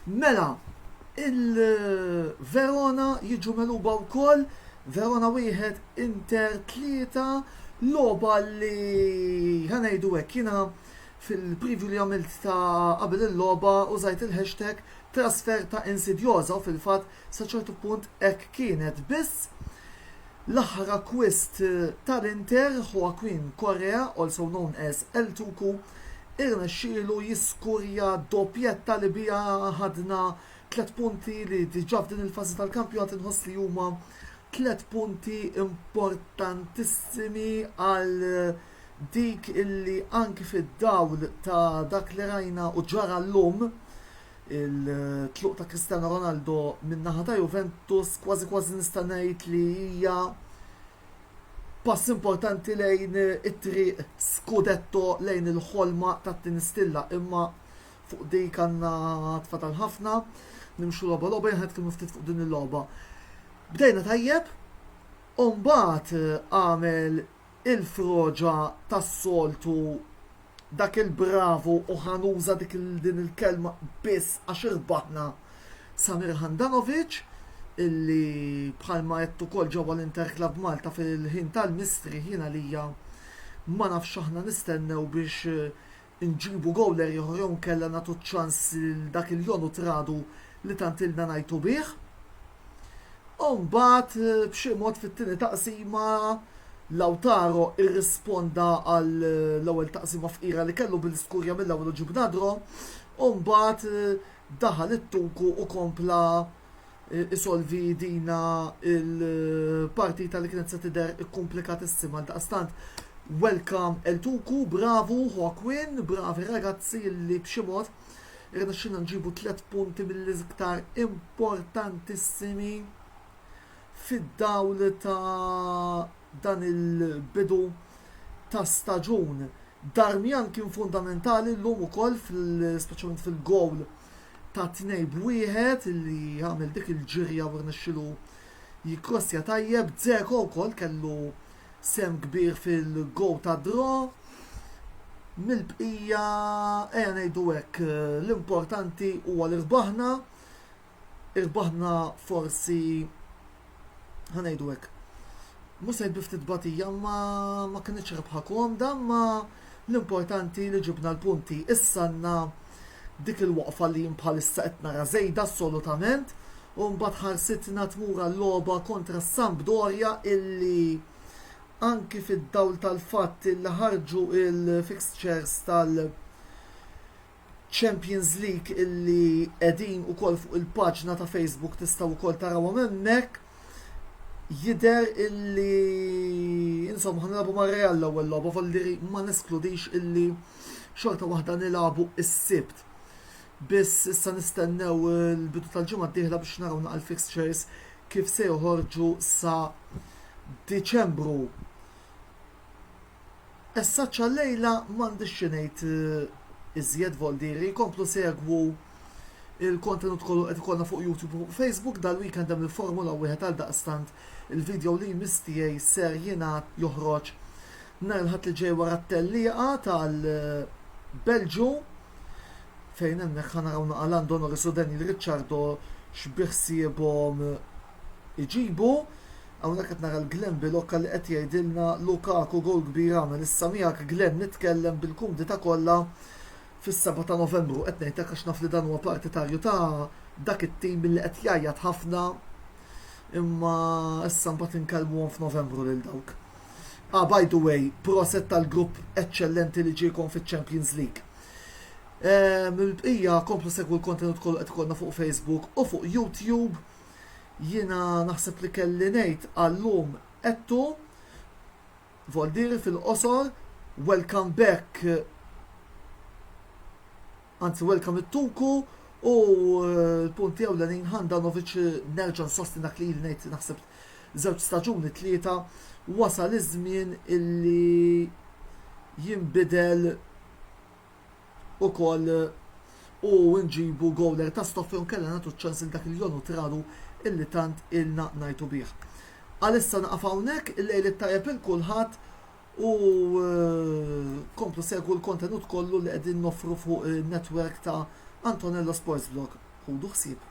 Mela, il-Verona jiġu meluba wkoll, Verona wieħed Inter tlieta loba li ħanejdu hekk jiena Fil-preview li għamilt ta' qabel il-logħba użajt il-hashtag trasfer ta' Insidiosa u fil-fatt sa ċertu punt hekk kienet biss l-aħħar akkwist tal-Inter, Joaquin Correa, also known as El Tucu, irnexxielu jiskurja doppjetta li biha ħadna tliet punti li diġà f'din il-fażi tal-kampjonat inħoss li huma tliet punti importantissimi għal dik illi anki fid-dawl ta' dak li rajna u ġara llum, it-tluq ta' Cristiano Ronaldo min-naħa ta' Juventus kważi kważi nista' ngħid li hija pass importanti lejn it-triq scudetto lejn il-ħolma tat-tieni stilla imma fuq dik għandna tfadal ħafna. Nimxu logħba logħba jien ħadd ftit fuq din il-logħba. Bdejna tajjeb, u mbagħad għamel Il-froġa tas-soltu dak il-bravu u ħa nuża dik din il-kelma biss għax irbaħna Samir Handanovic illi bħalma għedt ukoll ġewwa l-Inter Club Malta fil-ħin tal-mistrieħ jien għalija ma nafx x'aħna nistennew biex nġibu gowler ieħor jew inkella nagħtu ċ-ċans lil dak il-Jon u Tradu li tant ilna ngħajtu bih. U mbagħad b'xi mod fit-tieni taqsima Lautaro irrisponda għall-ewwel taqsima fqira li kellu billi skurja mill-ewwel u ġib nadro u mbagħad daħal it-tuku u kompla isolvi dina il-partita li kienet se tidher ikkumplikatissima għal daqstant welcome El Tuku, bravu Hawkwin, bravi ragazzi li b'xi mod irnexxilna nġibu tliet punti mill-iżktar importantissimi fid-dawl ta' dan il-bidu ta' staġun. Darmian kien fundamentali llum ukoll, speċjalment fil-gowl ta' tnejn b'wieħed li għamel dik il-ġirja u rnexxielu jikkrossja tajjeb. Dzeko wkoll kellu sehem kbir fil-gowl tad-draw. Mill-bqija ejja ngħidu hekk l-importanti huwa li rbaħna. Irbaħna forsi ħa ngħidu hekk. Mhux se ftit batija ma ma kinitx rebħa komda ma l-importanti li ġibna l-punti. Issa għandna dik il-waqfa li bħalissa qed nara żejda assolutament u mbagħad ħarsitna tmur għal-logħba kontra Sampdoria illi anki fid-dawl tal-fatt li ħarġu il-fixtures tal- Champions League illi qegħdin ukoll fuq il-paġna ta' Facebook tistgħu wkoll tarawhom hemmhekk. Jidher illi insomma ħanilagħbu mar Real l-ewwel logħba volliri ma neskludix illi xorta waħda nilagħbu is-Sibt. Biss issa nistennew il-bidu tal-ġimgħa d-dieħla biex naraw naqal fixtures kif se joħorġu sa Diċembru. Essa ċallejla m'għandix xi ngħid iżjed voldieri, jkomplu segwu il-kontenut kollu qed ikollna fuq YouTube u Facebook dal-weekend hemm il-Formula Wieħed għal daqstant il-video li jmiss tiegħi ser jingħad joħroġ nhar il-Ħadd li ġej wara t-tellieqa tal-Belġu fejn hemmhekk ħa naraw naqa' Lando Norris u Daniel Ricciardo x'biħsiebhom iġibu. Hawnhekk qed nara l-Glenn Bilocca li qed jgħidilna Lukaku gowl kbir għamel issa miegħek Glenn nitkellem bil-kumdità kollha fis-7 ta' Novembru. Qed ngħidlek għax naf li dan huwa partitarju ta' dak it-tim billi qed jgħajjat ħafna imma issa mbagħad inkellmuhom f'Novembru lil dawk. Ah, by the way, proset tal-grupp eċċellenti li ġiekom fiċ-Champions League. Mill-bqija komplu segwu l-kontenut kollu qed ikollna fuq Facebook u fuq YouTube. Jiena naħseb li kelli ngħid għal-lum għedtu, Voldiri fil-qosor, welcome back anzi welcome it-tuku u l-punti ewlenin Handanovic nerġa' nsostni dak li ngħid naħseb żewġ staġuni tlieta wasal iż-żmien illi jinbidel ukoll u nġibu gowler ta' stoffi u nkella nagħtu ċ-ċans lil dak il-Jonu Traru illi tant ilna ngħidu bih. Għalissa naqaf hawnhekk, il-lejl it-tajjeb il kulħadd u eh, komplu segwu l-kontenut kollu li qegħdin noffru fuq in-netwerk ta' Antonello Sports Vlog. Ħudu ħsieb.